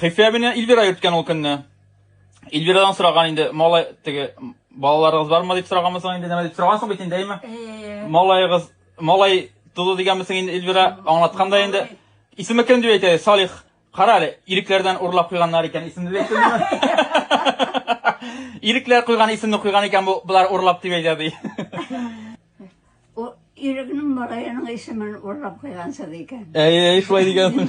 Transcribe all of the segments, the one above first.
Хәйфә әбине Илвира йөрткән ул көнне. Илвирадан сораган инде, малай теге балаларыгыз бармы дип сораганмысың инде, нәмә дип сорагансың бит инде, әйме? Э. Малайыгыз, малай туды дигәнмесең инде Илвира, аңлаткан да инде. Исеме кем дип әйтә, Салих. Кара әле, ирекләрдән урлап куйганнар икән исемне дип Ирекләр куйган исемне куйган икән бу, болар урлап дип әйтә ди. Ирекнең малаеның исемен урлап куйгансыз икән. Әй, әй, шулай дигәнсең.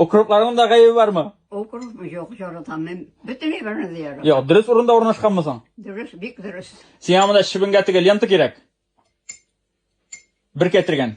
Укропларның да гаебе бармы? Укропмы юк, яратам мин. Бөтенләй берне дә яратам. Юк, дөрес урында урнашканмы соң? Дөрес, бик дөрес. Сиңа монда чебенгә тегә лента кирәк. Бер кәтергән.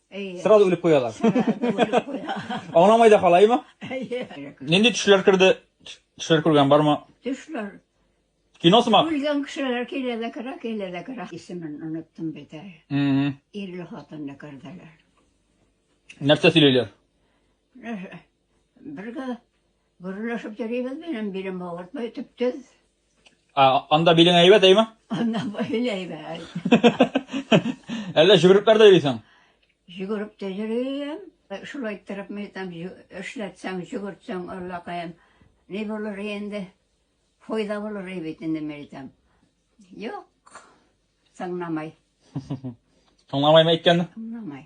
Әйе. Сразу үлеп куялар. Аңламай да халаймы? Әйе. Нинди төшләр керде? Төшләр күргән бармы? Төшләр. Кино сымак. Үлгән кешеләр килә дә керә, килә дә керә. Исемен оныттым бит әле. Ирле хатынны керделәр. Нәрсә сөйлиләр? Бергә гөрләшеп йөрибез белән билем авыртмый төптез. Ә, анда билең әйбәт, әйме? Анда бәйле әйбәт. Әллә җөгереп дә йөрисең? Җөгереп тә йөрим. Шулай иттереп мин там эшләтсәң, җөгертсәң, аллакаем. Ни булыр инде? Файда булыр бит инде мин әйтәм. Юк. Тыңламай. Тыңламаймы әйткәнне? Тыңламай.